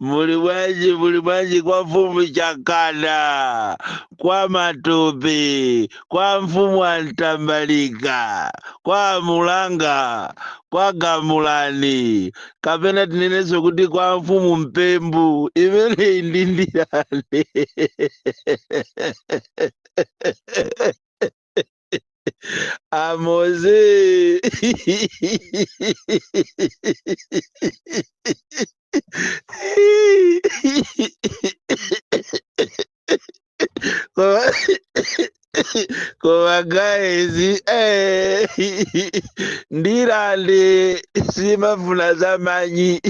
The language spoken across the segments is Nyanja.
muli bwanji muli bwanji kwa mfumu chakana kwa matope kwa mfumu a mtambalika kwa mulanga kwa gamulani kapena tinenenso kuti kwa mfumu mpembu imeneyi ndi ndirande Amoze. Koma- Koma guys, eh, ndirande simafuna za manyi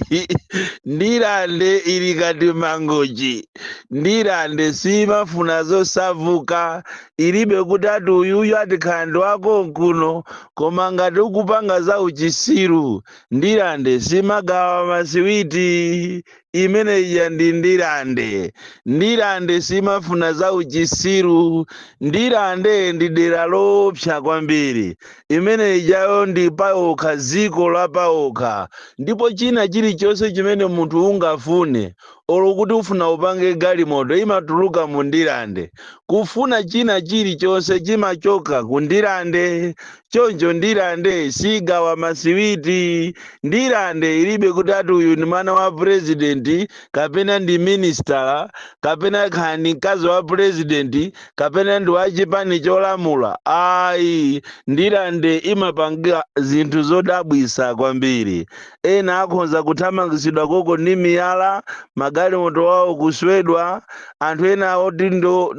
ndirande ili ngati mangochi ndirande simafuna zosavuka ilibe kuti ati uyuyu atikhala ndi wakonkuno koma ngati ukupanga za uchisiru ndilande simagawa masiwiti imene ija ndi ndilande ndilande simafuna za uchisiru ndilande ndi dera loopsa kwambiri imene ijayo ndi paokha dziko lapaokha ndipo china chilichonse chimene munthu ungafune olo kuti ufuna upange galimoto imatuluka mu ndilande kufuna china chilichonse chimachoka ku ndilande choncho ndilande sigawa masiwiti ndilande ilibe kuti ati uyu ndi mwana wa purezidenti kapena ndi minisitala kapena kaya ndi mkazi wa purezidenti kapena ndi wa chipani cholamula ayi ndilande imapanga zinthu zodabwisa kwambiri Ena akhonza kuthamangitsidwa konko ndi miyala, magalimoto awo kuswedwa, anthu ena oti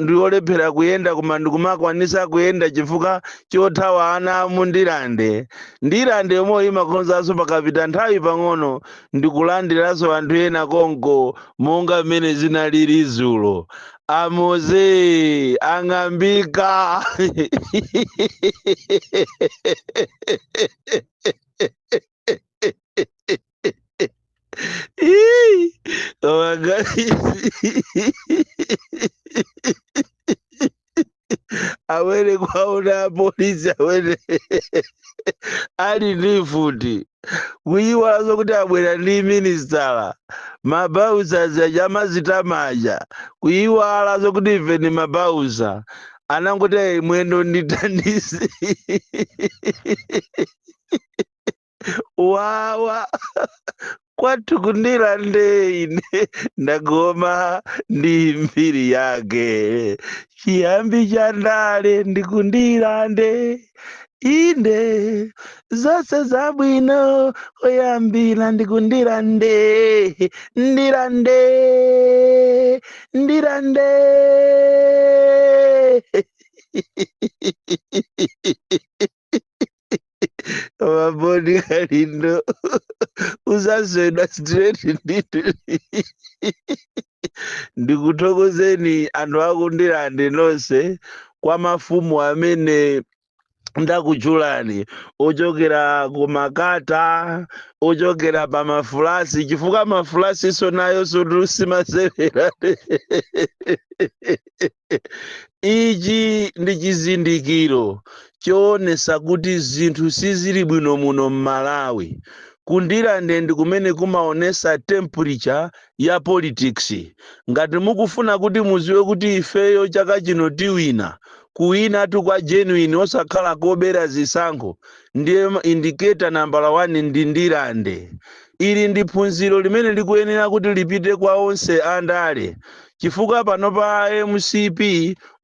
ndi olephera kuyenda koma ndikumakwanisa kuyenda chifukwa chothawa ana a mu Ndirande. Ndirande yomweyo imakhonzanso pakapita nthawi pang'ono ndikulandiranso anthu ena konko monga m'mene zinalili dzulo. A Moze ang'ambika! Ih, Koma guys. Awene kuwaona apolisi awene ali ndi mfuti kuyiwala zoti kuti abwera ndi minisitala mabausa aja amazitama aja kuyiwala zokuti ife ndi mabausa anangoti "Ayi, mwendo ndithandize wawa kwathu kundirande ine ndagoma ndi mbiri yake chiyambi cha ndale ndikundirande inde zonse zabwino oyambira ndikundirande ndirande ndirande Mabodi kalindo uzaswedwa straight nditu ndikuthokozeni anthu akundirande nonse kwa mafumu amene ndakutchulani ochokera kumakata ochokera pa mafulasi chifukwa mafulasiso nayo sotusimasewera Ichi ndi chizindikiro choonesa kuti zinthu sizili bwino muno mmalawi. Ku Ndirande ndi kumene kumaonesa temperature ya politics. Ngati mukufuna kuti muziwe kuti ifeyo chaka chino tiwina, kuwinatu kwa genuine osakhala kobera zisankho, ndiye indicator nambala 1 ndi Ndirande. Ili ndi phunziro limene likuyenera kuti lipite kwa onse a ndale chifukwa panopa a mcp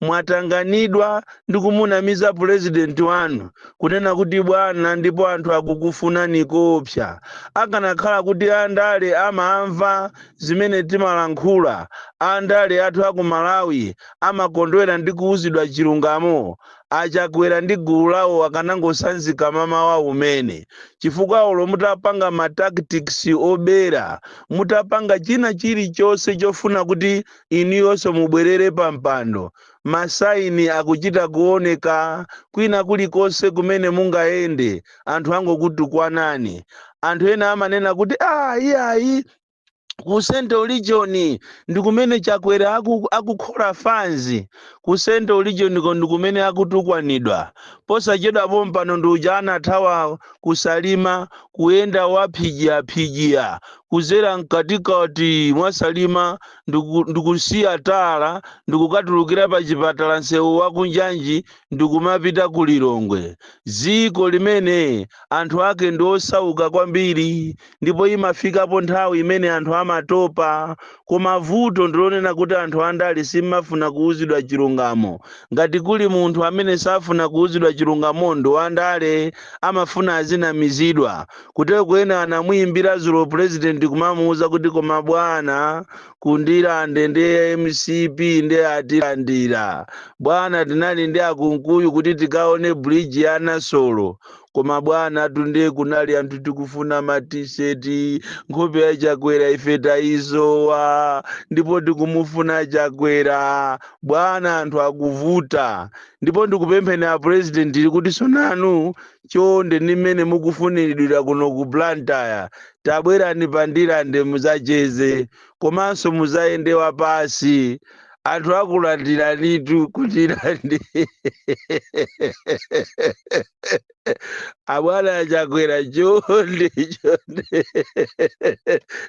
mwatanganidwa ndi kumunamiza pulezidenti wanu kunena kuti bwana ndipo anthu akukufunani koopsa. Akanakhala kuti a ndale amamva zimene timalankhula, a ndale athu a ku Malawi amakondwera ndi kuuzidwa chilungamo, a Chakwera ndi gulu lawo akanangosanzika mmawa womwe uno chifukwa olo mutapanga ma tactics obera, mutapanga china chilichonse chofuna kuti inuyonso mubwerere pa mpando, ma sign akuchita kuoneka kwina kulikonse kumene mungayende anthu angokutukwanani. Anthu ena amanena kuti aah iyayi! ku central region ndi kumene chakwera aku- akukhola fanzi ku central region ko ndi kumene akutukwanidwa posachedwa pompano ndi uja anathawa kusalima kuyenda waphijiyaphijiya kuzera mkatikati mwasalima ndiku- ndikusiya tala ndikukatulukira pa chipatala nsewu wakunjanji ndikumapita ku lilongwe dziko limene anthu ake ndi osauka kwambiri ndipo imafikapo nthawi imene anthu amatopa koma vuto ndilonena kuti anthu andale simmafuna kuuzidwa chilungamo ngati kuli munthu amene safuna kuuzidwa chilungamo ndi wandale amafuna azinamizidwa kuteroko ena anamuyimbira dzulo president kumamuuza kuti koma bwana kundirande ndi ya mcp ndi atilandira bwana tinali ndi akunkuyu kuti tikaone bridge ya nasolo koma bwana ku Ndirande kunali anthu tikufuna ma t-shirt nkhope ya chakwera ife tayisowa ndipo tikumufuna chakwera bwana anthu akuvuta ndipo ndikupempheni a president ili kuti inuyo chonde ndi mmene mukufuniridwira kuno ku blantyre tabwerani pa Ndirande muzacheze komanso muzayende wapasi anthu akulandiranitu ku Ndirande abwana achakwera chonde chonde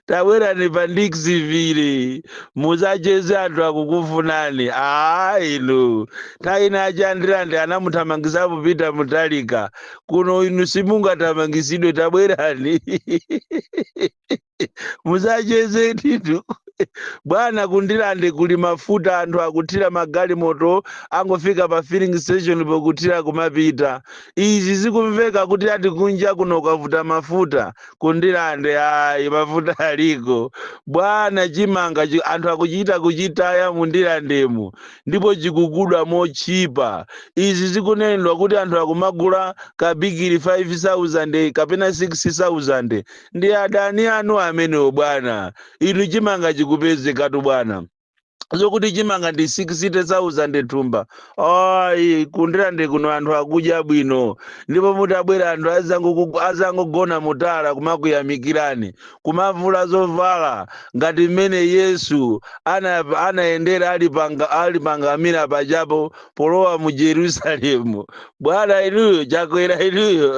tabwerani pa Dixville muzacheze anthu akukufunani aa inu nthawi ina achandilandi anamuthamangisapo Peter Mutharika kuno inu simungathamangisidwe tabwerani muzacheze ndithu bwana ku Ndirande kuli mafuta anthu akuthira magalimoto angofika pa filling station pokuthira kumapita izi zikumveka kuti ati kunja kuno kwavuta mafuta ku Ndirande ayi mafuta aliko bwana chimanga chi- anthu akuchita kuchitaya mu Ndirandemo ndipo chikugulidwa motchipa izi zikunenedwa kuti anthu akumagula kabigiri 5000 kapena 6000 ndi adani anu amenewo bwana inu chimanga chikupezekatu bwana zokuti chimanga ndi 60000 thumba ayi ku Ndirande kuno anthu akudya bwino ndipo mutabwera anthu azangoku- azangogona mu tala kumakuyamikirani kumavula zovala ngati mmene yesu ana- anayendera ali panga- ali pa ngamira pajapo polowa mu jerusalemu bwana inuyo chakwera inuyo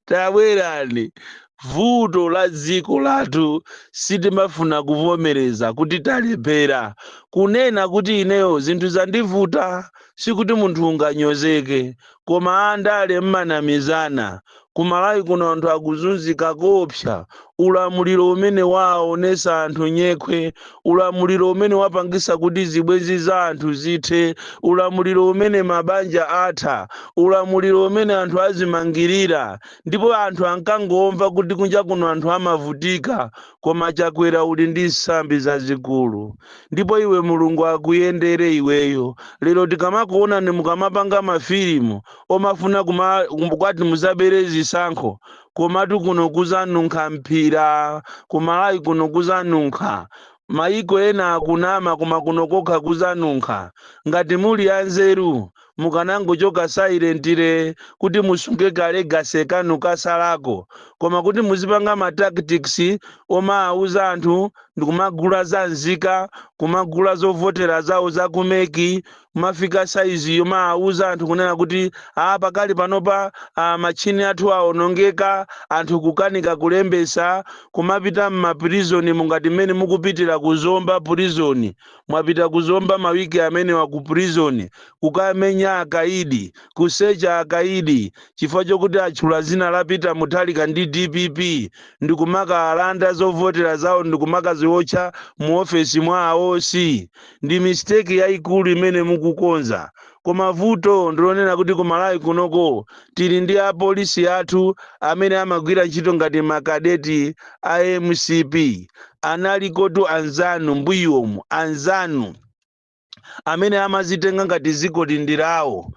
tabwerani vuto la dziko lathu sitimafuna kuvomereza kuti talephera kunena kuti ineyo zinthu zandivuta sikuti munthu unganyozeke koma andale mmanamizana, kumalawi kuno anthu akuzunzika koopsa, ulamuliro umene waaonesa anthu nyekhwe, ulamuliro umene wapangisa kuti zibwenzi za anthu zithe, ulamuliro umene mabanja atha, ulamuliro umene anthu azimangirira ndipo anthu ankangomva kuti kunja kuno anthu amavutika koma chakwera uli ndi nsambi zazikulu. ndipo iwe mulungu akuyendere iweyo lero tikamakuonani mukamapanga mafilimu omafuna kuma- kum- kwati muzabere zisankho komatu kuno kuzanunkha mphira kumalawi kuno kuzanunkha mayiko ena akunama koma kuno kokha kuzanunkha ngati muli anzeru mukanangochoka silently kuti musunge ka legacy kanu kasalako koma kuti muzipanga ma tactics omawuza anthu ndikumagula za nzika kumagula zovotera zawo za kumeki kumafika saizi yomawuza anthu kunena kuti a pakali panopa a, matchini athu awonongeka anthu kukanika kulembesa kumapita m'maprizoni mungati mmene mukupitira ku zomba prison mwapita kuzomba mawiki amenewa ku prison kukamenya akaidi kusecha akaidi chifukwa chokuti atchula zina la peter mutharika ndi dpp ndikumakaalanda zovotera zawo ndikumakaziwotcha mu ofesi mwa a oc ndi mistake yayikulu imene mukukonza Koma vuto ndilonena kuti ku Malawi kunoko tili ndi a police athu amene amagwira ntchito ngati ma cadet a mcp. Analikotu anzanu mbuyomu anzanu amene amazitenga ngati dzikoli ndi lawo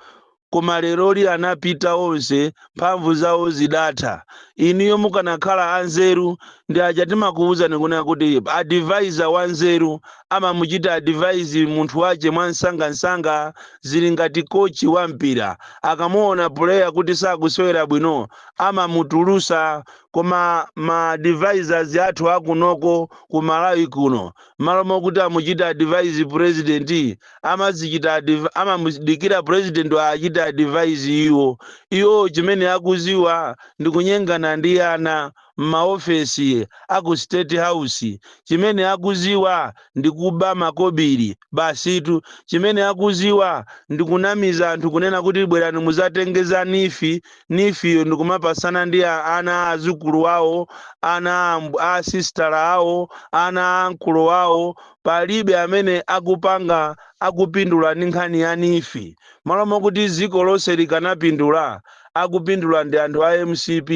koma leroli anapita onse. mphamvu zawo zidatha. Inuyo mukanakhala anzeru ndi aja timakuuzani kunena kuti advisor wanzeru amamuchita advise munthu wache mwamsangamsanga zili ngati coach wa mpira akamuona player kuti sakusewera bwino amamutulusa koma ma advisors athu akunoko ku Malawi kuno mmalo mokuti amuchite advise president amazichita adv- amamudikira president awachite advise iwo iwo chimene akuziwa ndi kunyengana ndi ana m'maofesi a ku state house chimene akuziwa ndi kuba makobiri basitu chimene akuziwa ndi kunamiza anthu kunena kuti bwerani muzatenge za neef neefiyo ndi kumapasana ndi a- ana a azukulu awo ana a amb- a sistala awo ana a ankolo awo palibe amene akupanga akupindula ndi nkhani ya neef malo mokuti dziko lonse likanapindula akupindula ndi anthu a mcp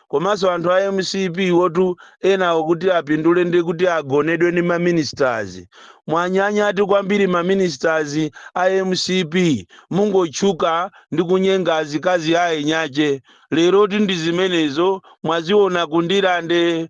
komanso anthu a mcp wotu enawo kuti apindule ndi kuti agonedwe ndi ma ministers mwanyanyatu kwambiri ma ministers a mcp mungotchuka ndi kunyenga azikazi a eni ake leroti ndi zimenezo mwaziona kundirande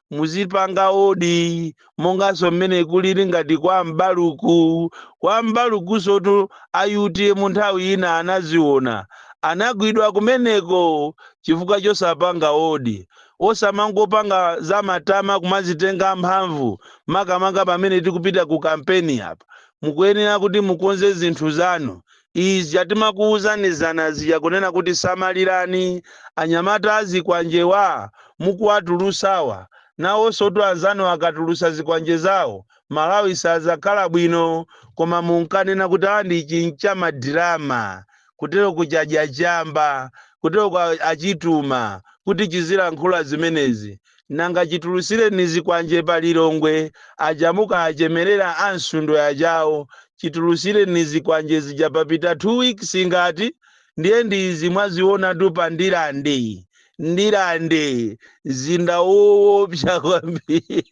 muzipanga odi monganso mmene kulili ngati kwa m'baluku kwa m'balukunsotu a utm nthawi ina anaziona anagwidwa kumeneko chifukwa chosapanga odi osamangopanga za matama kumazitenga mphamvu makamaka pamene tikupita ku kampeni apa mukuyenera kuti mukonze zinthu zanu ija timakuuzani zana zija kunena kuti samalirani anyamata azikwanjewa mukuwatulusawa nawonsotu anzanu akatulusa zikwanje zawo malawi sazakhala bwino koma munkanena kuti awa ndi chincha madirama kutero chadya chamba kutero ko achituma kuti chizilankhula zimenezi nanga chitulutsireni zikwanje pa lilongwe aja munkachemerera a msundwe ajawo chitulutsireni zikwanje zija papita 2 weeks ngati ndiye ndi izi mwazionatu pa ndilande ndilande mzinda woopsa kwambiri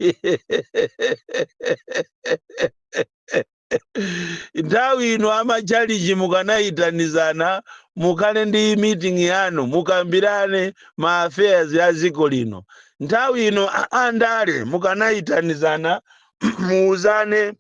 nthawi ino amachalichi mukanayitanizana mukhale ndi meeting yanu mukambirane ma affairs ya dziko lino nthawi ino a- andale mukanayitanizana muuzane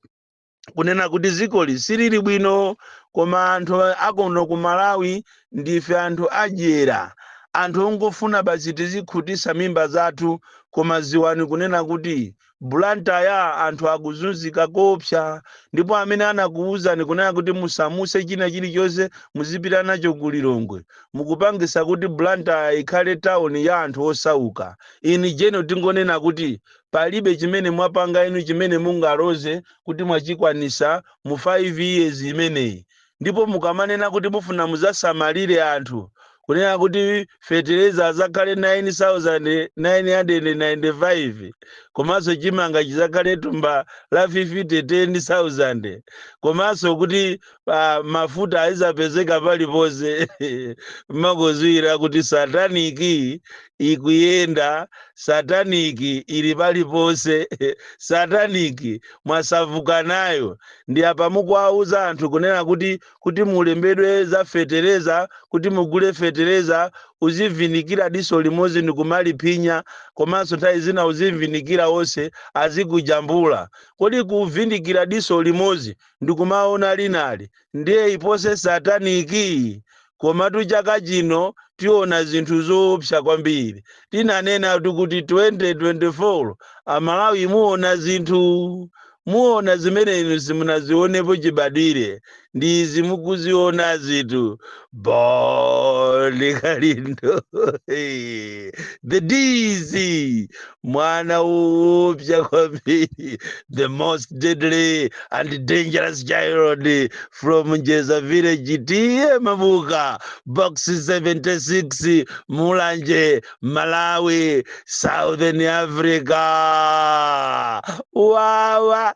kunena kuti dzikoli silili bwino koma anthu akono ku malawi ndife anthu adyera anthu ongofuna basi tizikhutisa mimba zathu koma ziwani kunena kuti Blantyre anthu akuzunzika koopsa ndipo amene anakuwuzani kunena kuti musamuse china chilichonse muzipita nacho ku Lilongwe mukupangisa kuti Blantyre ikhale town ya anthu osauka. In general tingonena kuti palibe chimene mwapanga inu chimene mungaloze kuti mwachikwanisa mu 5 years imeneyi. ndipo mukamanena kuti mufuna muzasamalire anthu kunena kuti fetereza azakhale 9995 komanso chimanga chizakhale thumba la 10000 komanso kuti uh, mafuta azizapezeka paliponse mumakozera kuti sataniki ikuyenda sataniki ili paliponse sataniki mwasauka nayo Ndi apa mukuwauza anthu kunena kuti kuti mulembedwe za fetereza kuti mugule fetereza uzivindikira diso limodzi ndikumaliphinya komanso nthawi zina uzivindikira onse azikujambula. Kodi kuvindikira diso limodzi ndikumaona linali ndiye ipose sataniki? komatu chaka chino tiona zinthu zoopsa kwambiri tinanenatu kuti 2024 amalawi muona zinthu muona zimene inu simunazionepo chibadwire ndi izi mukuzionazitu Bon Kalindo the DC mwana woopsa kwambiri the most deadly and dangerous child from njeza village tiye mabuka box 76 mulanje malawi southern africa wawa